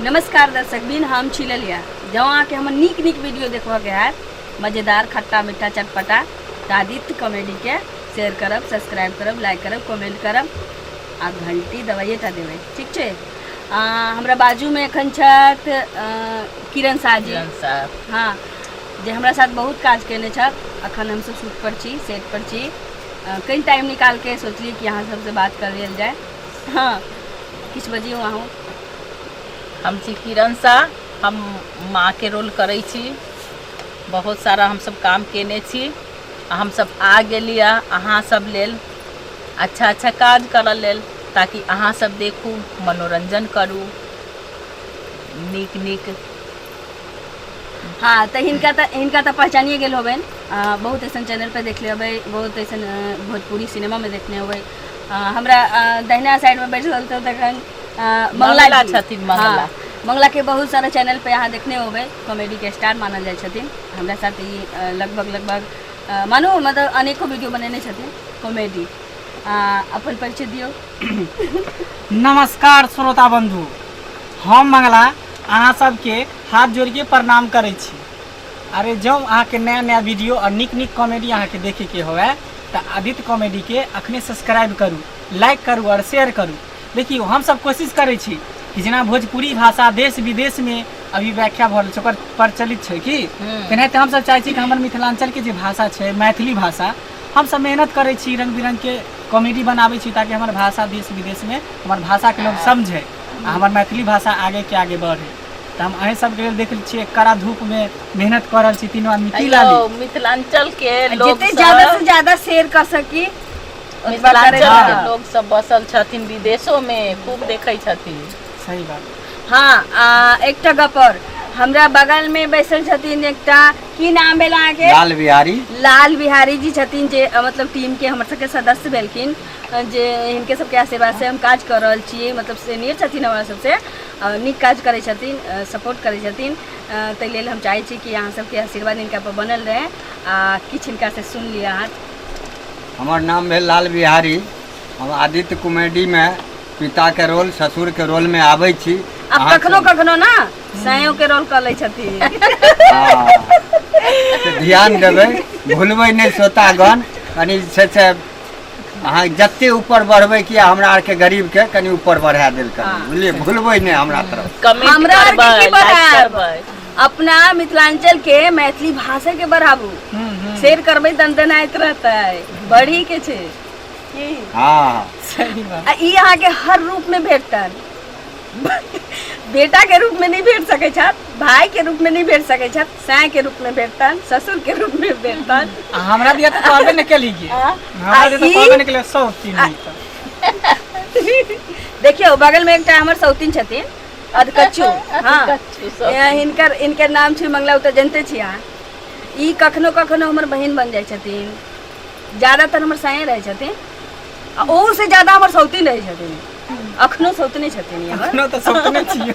नमस्कार दर्शक बिन हम छी ललिया जँ अहाँके हमर नीक नीक वीडियो देखबऽके हैत मजेदार खट्टा मीठा चटपटा तऽ आदित्य कॉमेडीके शेयर करब सब्सक्राइब करब लाइक करब कमेंट करब आ घंटी दबाइए टा देबै ठीक छै आ, हमरा बाजूमे एखन छथि अ, किरण साह जी किरण साहब हँ जे हमरा साथ बहुत काज केने छथि अखन हमसब शूट पर छी सेट पर छी कनि टाइम निकाल के सोचलिए कि अहाँ सबसँ बात कर लेल जाए हँ किछु बजियौ अहूँ हम छी किरण शाह हम माँ के रोल करै छी बहुत सारा हमसब काम केने छी आ हमसब आ गेलिए अहाँ सब लेल अच्छा अच्छा काज करऽ लेल ताकि अहाँ सब देखू मनोरंजन करू नीक नीक हँ तऽ हिनका तऽ हिनका तऽ पहचानिए गेल होबनि आ, बहुत ऐसन चैनल पर देखले होबै बहुत ऐसन अ, भोजपुरी सिनेमा में देखने होबै अ, हमरा अ, दहिना साइड में बैठल रहल तऽ तखन अ, मंगला मंगला जी। छथिन, मंगला। हाँ, मंगला के बहुत सारा चैनल पे अहाँ देखने होबै कॉमेडी के स्टार मानल जाइ छथिन हमरा साथ ई अ, लगभग लगभग अ, मानो मतलब अनेको वीडियो बनेने छथिन कॉमेडी अ, अपन परिचय दियौ नमस्कार श्रोता बंधु हम मंगला अहाँ सबके हाथ जोड़िके प्रणाम करै छी अरे जँ अहाँके नया नया वीडियो आओर नीक नीक कॉमेडी अहाँके देखैके हुए तऽ आदित्य कॉमेडीके अखने सब्सक्राइब करू लाइक करू आओर शेयर करू देखियौ हमसब कोशिश करै छी कि जेना भोजपुरी भाषा देश विदेशमे अभी व्याख्या भऽ रहल छै ओकर प्रचलित छै कि तेनाहिते हमसब चाहै छी कि हमर मिथिलाञ्चलके जे भाषा छै मैथिली भाषा हमसब मेहनत करै छी रङ्ग बिरङ्गके कॉमेडी बनाबै छी ताकि हमर भाषा देश विदेशमे हमर भाषाके लोक समझै आ हमर मैथिली भाषा आगे के आगे बढ़े तऽ हम अहीं सबके लेल देख लै छियै कड़ा धूप में मेहनत कर रहल छी तीनों आदमी की लाली अयो, मिथिलांचल के लोग जितने ज्यादा से सब ज्यादा शेयर कर सकी उतना मिथिलांचल करे के जाना। लोग सब बसल छथिन विदेशो में खूब देखै छथिन सही बात हाँ आ एकटा गपर हमरा बगल में बैसल छथिन एकटा की नाम भेल अहाँके लाल बिहारी लाल बिहारी जी छथिन जे अ, मतलब टीम के हमर सबके सदस्य भेलखिन जे हिनके सबके आशीर्वाद से हम काज कर रहल छी मतलब सीनियर छथिन हमरा सबसे आ, नीक काज करै छथिन आ, सपोर्ट करै छथिन आ, ताहि लेल हम चाहै छी कि अहाँ सबके आशीर्वाद हिनका पर बनल रहे आ किछु हिनका से सुन लिअ अहाँ हमर नाम भेल लाल बिहारी हम आदित्य कॉमेडीमे पिताके रोल ससुरके रोलमे आबै छी आब अहाँ कखनो सब- कखनो ना सायो के रोल कर लै छथिन हँ। से ध्यान देबै भूलबै नहि सोतागन कनि से से अहाँ जते ऊपर बढ़बै कि हमरा आरके गरीब के कनि ऊपर बढ़ा देल कर हाँ। बुझलिए भूलबै नहि हमरा तरफ कमेंट हमरा आर करबै के की लाइक पता? करबै अपना मिथिलांचल के मैथिली भाषा के बढ़ाबू शेयर करबै तन तन आइत रहतै बढ़ी के छै की हाँ सही बात आ ई अहाँके हर रूप में भेटतन बेटा के रूप में नहीं भेट सकै छथि भाई के रूप में नहीं भेट सकै छथि साय के रूप में भेटतन ससुर के रूप में भेटतन आ हमरा दिया तो कहबे न केली गे आ? हमरा आ दिया तो ई? कहबे न केली सौ तीन आ- मीटर देखियो बगल में एकटा हमर सौतीन छथिन अधकच्चू हाँ कच्चू सब। यहाँ हिनकर इनकर नाम छी मंगला उ तऽ जनते छी अहाँ ई कखनो कखनो हमर बहिन बन जाइ छथिन ज्यादातर हमर साये रहै छथिन आ ओहू से ज्यादा हमर सौतीन रहै छथिन अखनो सौतने छथिन ई हमर अपना तो सपने छियो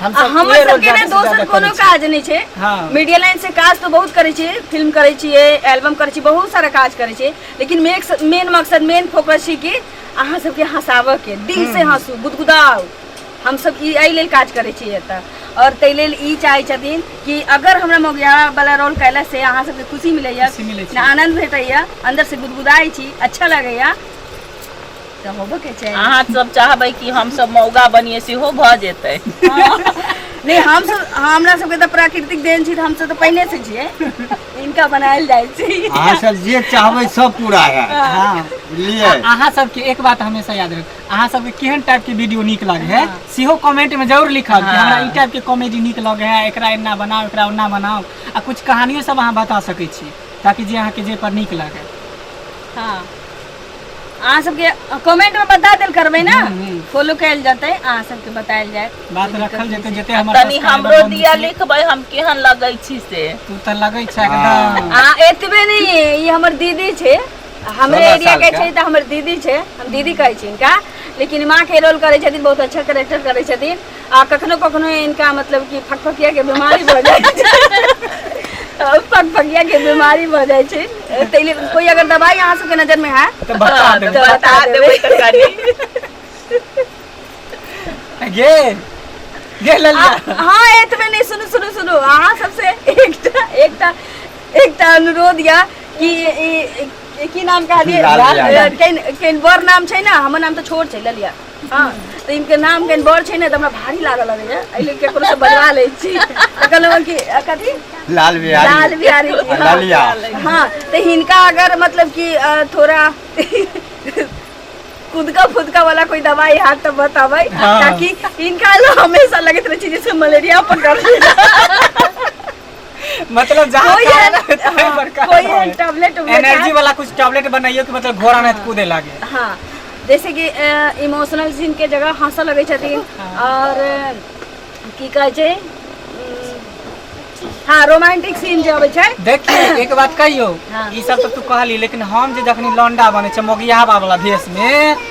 हम आ सब हमर ये रोल सबके ने जादे से दोसर जादे कोनो करै छी। काज नहि छै हाँ। मीडिया लाइन से काज तो बहुत करै छियै फिल्म करै छियै एल्बम करै छियै बहुत सारा काज करै छियै लेकिन मेक- मेन मकसद मेन फोकस छै कि अहाँ सबके हँसाबऽ के दिल से हँसू गुदगुदाउ हम सब ई एहि लेल काज करै छियै एतऽ और ताहि लेल ई चाहै छथिन कि अगर हमरा मौगिया वाला रोल कैला से अहाँ सबके खुशी मिलैया खुशी मिलै छै। आनंद भेटैया अंदर से गुदगुदाइ छी अच्छा लगैया तऽ होबे के चाही अहाँ सब चाहबै कि हमसब मौगा बनिए सेहो भऽ जेतै नहि हमसब हमरा सबके तऽ प्राकृतिक देन छी तऽ हमसब तऽ पहिले से छियै इनका बनायल जाइ छै अहाँ सब जे चाहबै सब पूरा है हाँ। बुझलियै अहाँ सबके एक बात हमेशा याद रख अहाँ सबके केहन टाइप के वीडियो नीक लगे है सेहो कमेंट में जरूर लिखब कि हमरा ई टाइप के कॉमेडी नीक लगे है एकरा एना बनाओ एकरा ओना बनाओ आ कुछ कहानियो सब अहाँ बता सकै छी ताकि जे अहाँके जे पर नीक लगे हाँ अहाँ सबके कमेंट में बता देल करबै ना फॉलो कैल जतै अहाँ सबके बतायल जाय बात रखल जेतै जते हमर तनी subscriber हमरो बनै दिया छै, लिखबै हम केहन लगै छी से तू तऽ लगै छै एकदम आ एतबे नहीं ई हमर दीदी छै हमरे सोलह एरिया साल के के। छै तऽ हमर दीदी छै हम दीदी कहै छी इनका लेकिन माँ के रोल करै छथिन बहुत अच्छा कैरेक्टर करै छथिन आ कखनो कखनो इनका मतलब कि फकफकिया के बीमारी भऽ जाइ छै फकफकिया के बीमारी भऽ जाइ छै ताहि लेल कोई अगर दवाई अहाँ सबके नजर में है तऽ बता हाँ, देबै तऽ बता देबै तरकारी गे गे ललिया आ- हाँ एतबे नहीं सुनू सुनू सुनू अहाँ सबसे एकटा एकटा एकटा अनुरोध या कि ई- ई- की नाम कहा दिए लाल लाल। केन केन बड़ नाम छै ना हमर नाम तो छोट छै ललिया हँ तऽ इनके नाम कनि बड़ छै ने तऽ हमरा भारी लागल लगैया एहि लेल केकरो से बजवा लै छी तऽ कहलहुँ कि अ, कथी लाल बिहारी लाल बिहारी जी हाँ। लालिया। हाँ तो इनका अगर मतलब कि अ, थोड़ा खुदका फुदका वाला कोई दवाई हाथ तो बताबै हाँ। ताकि इनका लो हमेशा लगत रहे छै जैसे मलेरिया पकड़ लेला मतलब जहाँ कोई खाना एहन- रहै तहाँ हाँ, बड़का कोई रहै। एहन tablet उबलेट एनर्जी आएत। वाला कुछ टैबलेट बनाइयो कि मतलब घोड़ा नहीं कूदे लागे हाँ जैसे कि इमोशनल सीन के जगह हंसऽ लगै छथिन और अ, की कहै छै उम, हाँ रोमांटिक सीन जे अबै छै देखिए एक बात कहियो हाँ। ई सब तो तू कहली लेकिन हम जे जखनी लौंडा बने छै मोगियाबा वाला भेष में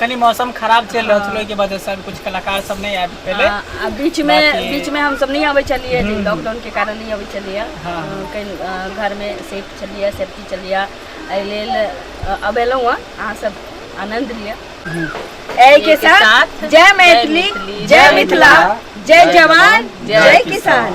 कनी मौसम खराब चलि रहल छलै ओहिके वजह से कुछ कलाकार सब नहि आबि पेले आ आ बीच में बाकी- बीच में हम सब नहीं आबे छलिए जे लॉकडाउन के कारण नहीं आबे छलिए हाँ। कहीं अ, घर में सेफ छलिए सेफ्टी छलिए एहि लेल अ, अब एलहुँ हँ अहाँ सब आनंद लिअ एहि के साथ जय मैथिली जय मिथिला जय जवान जय किसान